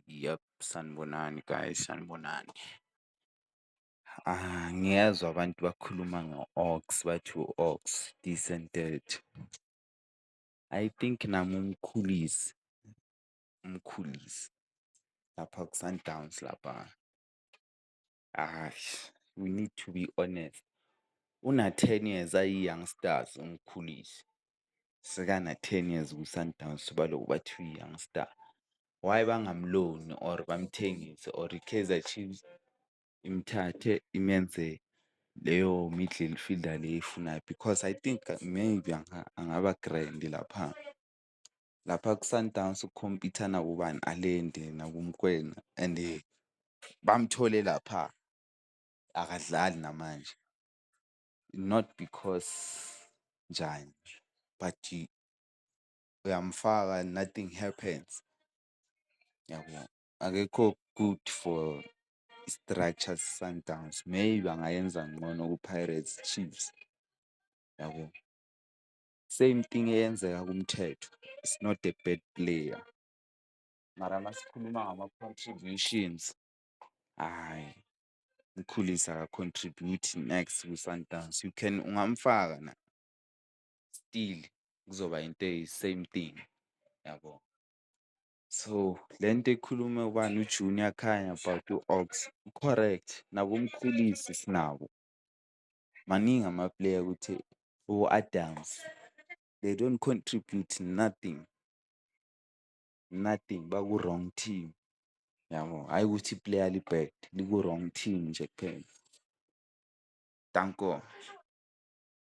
Yep, sanibonani guys, sanibonani. Ah, ngiyezwa abantu bakhuluma ngo-Ox, bathi u-Ox this and that. I think nami uMkhulizi, uMkhulizi lapha kuSundowns lapha. Hhayi we need to be honest una-ten years ayi-youngsters uMkhulise sekana-ten years kwiSundowns baloku bathi uyi-young star. Why bangamu-loan-i or bamthengise or iKaizer Chiefs imthathe imenze leyo midlelifi le eyifunayo because I think maybe angaba grand lapha. lapha kuSundowns ukhompitha nabobani Allende naboMokwena and bamthole lapha akadlali namanje not because njani but uyamfaka nothing happens yabo. Akekho good for i-structure seSundowns maybe angayenza ngcono kuPirates, Chiefs yabo. Same thing eyenzeka kuMthethwa, is not a bad player. Mara uma sikhuluma ngama-contributions, hhayi Mkhulisi aka-contribute-i nex kwiSundowns. You can, ungamfaka la still kuzoba into eyi-same thing, yabo. So, le nto ekhulunywa ubani, uJunior Khanye about u-Ox, i-correct. NakuMkhulisi sinabo. maningi ama-player ukuthi o-Adams they don't contribute nothing, nothing baku-wrong team yabo. Hhayi ukuthi i-player li-bad, liku-wrong team nje kuphela. Danko.